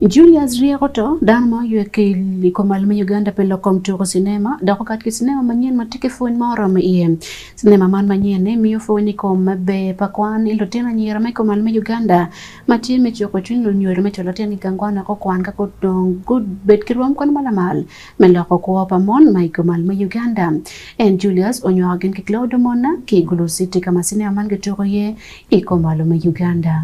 Julius ryeko to, dano ma oywe ki i kom al me Uganda pi lok kom tuku cinema dok okat ki cinema manyen ma tye ki pwony ma oromo iye. Cinema man manyen-ni miyo pwony i kom maber pa kwan i lutino anyira ma i kom al me Uganda ma tye me cuko cwiny lunyodo me cwalo lutino i gang kwan wek gukwan ka gudong gubed ki rwom kwan ma lamal me loko kwo pa mon ma i kom al me Uganda. En, Julius, onywako gin ki Claude Omona ki i Gulu City ka ma cinema man kituko iye i kom al me Uganda.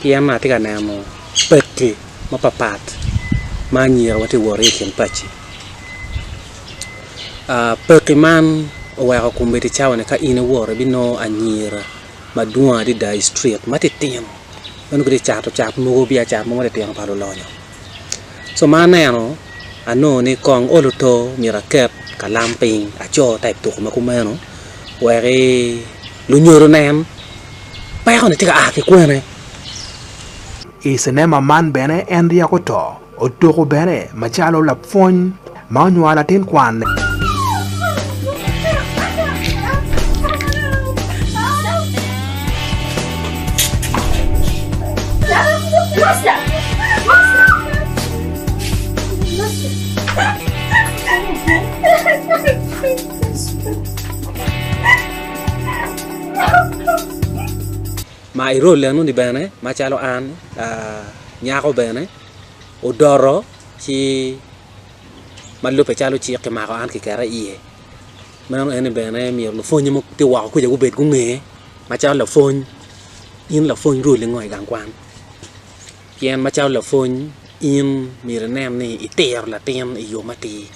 pien atye ka neno paki mapapat ma anyira ma tye ka wot ki i kin pacci paki man oweko kombeddi cawa ni ka in iwoto ibinongo anyira madwong adada i street ma titino ma nongo gitye ka cato cat mogo biacara mogo matitino pa lulonyo so ma aneno anongo ni kong olo oto myero aket kalam piny aco type tuko ma kumeno wek lunyodo onen. pekone tye ka a ki kwene? I cinema man bene en ryeko to, otuko bene macalo lapwony ma onywalo latin kwanne. Ma i role eno ni bene macalo an nyako bene odoto ci ma lubbe calo cik ki mako an ki keta iye meno en ni bene myero lupwonye ma tye woko kwica gubed gunge macalo lapwony in lapwony roli ngo i gang kwan pien macalo lapwony in myero inen ni itiro latin i yo matir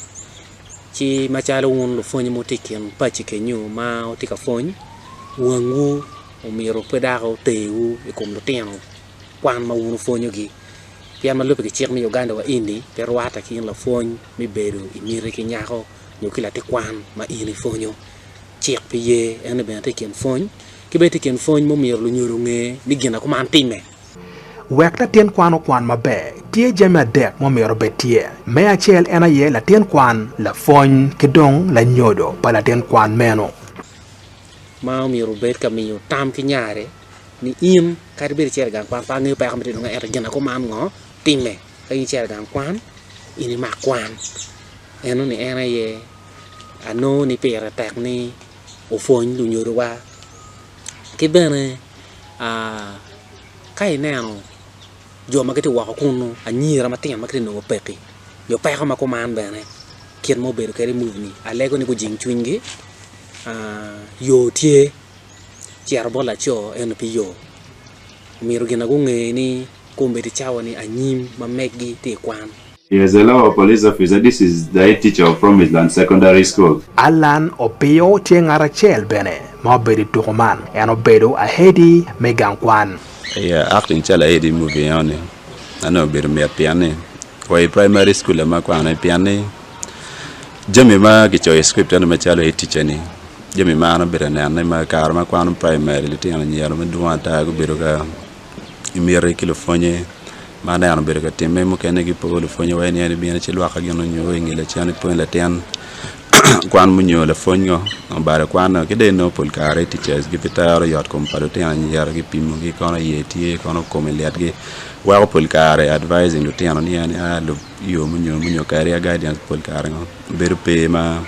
ci macalo wun lupwony ma wutye i kin paci kenyu ma wutye ka pwony, wangwu omyero pe dok oterwu i kom lutino kwan ma wun wupwonyogi. Pien ma lubbe ki cik me Uganda wa eni pe rwatte ki in lapwony me bedo i miti ki nyako nyo ki latin kwan ma in ipwonyo. Cik pe ye en ni bene itye i kin pwony. Ki bene itye i kin pwony ma omyero lunyodo onge ni gin ma kuman timme. Wek latin kwan okwan maber, tye jami adek ma omyero obed tye. Me acel en aye latin kwan, lapwony, ki dong lanyodo pa latin kwan meno. Ma omyero obed ka miyo tam ki nyare ni in kadi bed icito i gang kwan pe angeyo peko ma itye dong ento gin akuman ngo timme ka in icito i gang kwan in imak kwan. Enoni en aye anongo ni pire tek ni. opwony lunyodowa ki bene ka ineno jo ma gitye woko kunu anyira matino ma gitye ka nongo pekki nyo peko ma kuman bene kit ma obedo kwede i muvi-ni alego ni gujing cwinygi yo tye cito bot laco ento pe yo omyero gin ma gunge ni kong obed ki cawa ni anyim ma megi tye ka kwan. He is a local police officer. This is the head teacher of Promised Land Secondary School. Allan Opio tye ngat acel bene ma obedo i tuko man. En obedo ahedi me gang kwan. Aye acting calo ahedi me movie eno ni ma nongo obedo mit pien ni wa i primary school lam ma kwano pien ni jami ma kicoyo i script eno macalo head teacher ni jami ma an abedo ka nenone ma kare ma akwano primary litino anyira madwong ata gubedo ka gimiti ki lupwonye Ma aneno obedo ka timme mukene ki poko lupwony awaci ni en ibino ci lwak ka gin onyo i nge lacen ipwony latin kwan munyo lapwony ngo obalo kwan ngo ki dong inongo pol kare i teachers gi pe tero yot kom pa lutino anyira ki pimo gi kono iye tye kono kome lit gi weko pol kare advising lutino ni en a lub yo munyo munyo kadi a guidance pol kare ngo bedo pe ma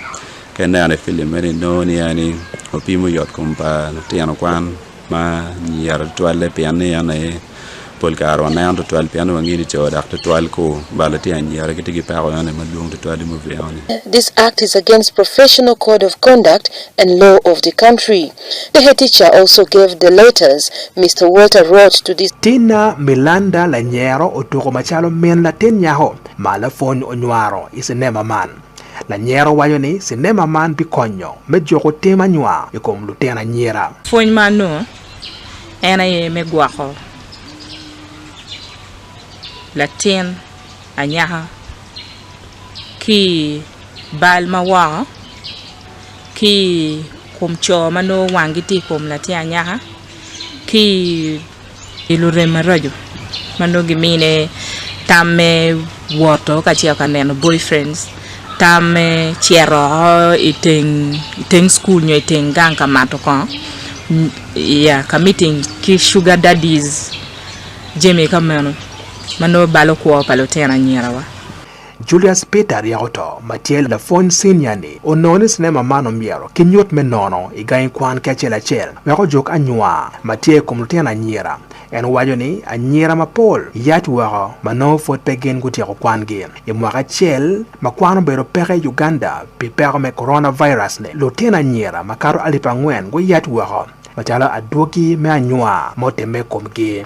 ka ineno i film eni inongo ni en ni opimo yot kom pa lutino kwan ma nyiyero tutwalle pien ni en aye pol kare waneno tutwal pien ni wangeyo ni co dok tutwal ku balo tye anyira gitye ki peko eno aye madwong tutwal i movie enoni. This act is against professional code of conduct and law of the country. The head teacher also gave the letters Mister Walter wrote to the. Tina Milanda lanyero otuko macalo min latin nyako ma lapwony onywaro i cinema man. Lanyero waco ni cinema man bikonyo me juko tim anywa i kom lutino anyira. Pwony ma anongo en aye me gwoko latin anyaka ki i bal ma woko, ki i kom co ma nongo wangi tye i kom latin anyaka, ki i. pi lurem maraco ma nongo gimine tam me woto kacel ka neno boyfriends, tam me cito woko i teng i teng cukul nyo i teng gang ka mato kongo iya ka meeting ki sugar daddies jami ka meno ma nongo balo kwo pa lutino anyirawa. Julius Peter aryaka oto, ma tye lapwony cinia-ni onongo ni cinema man omyero kinyut me nono i gangi kwan ki acel acel wek ojuk anywa ma tye i kom lutino anyira. En waco ni anyira mapol yac woko ma nongo pwod pe gin gutyeko kwangi. I mwaka acel ma kwan obedo peke i Uganda pi peko me coronavirus-ni, lutino anyira makato alip angwen guyac woko macalo adwogi me anywa ma otimme i komgi.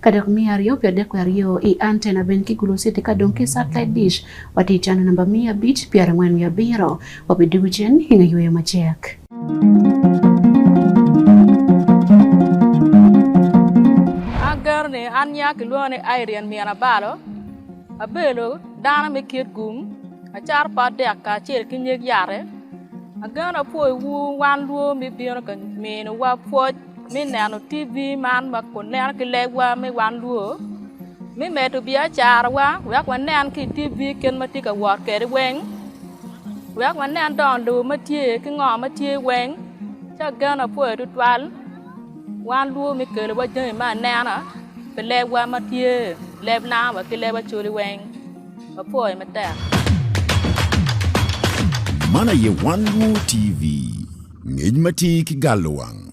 Ka dok miya aryo pi adek wi aryo i antena bene ki gulociti ka dong ki satellite dish. Watye i cano namba miya abic, pyera angwen wiye abiro. Wabi dugu cen i nge yweyo macek. Ageno ni an nya kilwonga ni Irene Mian Abalo, abedo dano me kit gum, acato pot dek kacel ki nyig yate. Ageno ni apwoyo wu wan lwor ma ibino ka mino wa pwoc. me neno TV man ma waneno ki legwa me wan luo me medo biacarawa wek wanen ki i TV kit ma tye ka wot kwede weng wek wanen dong lobo ma tye ki ngo ma tye weng ci ageno apoyo tutwal wan luwo me kelowa jami me anena pi lebwa ma tye leb nanga wa ki leb Acholi weng apoyo matek. Man aye Wan Luo TV, ngec ma tye ki galo wang.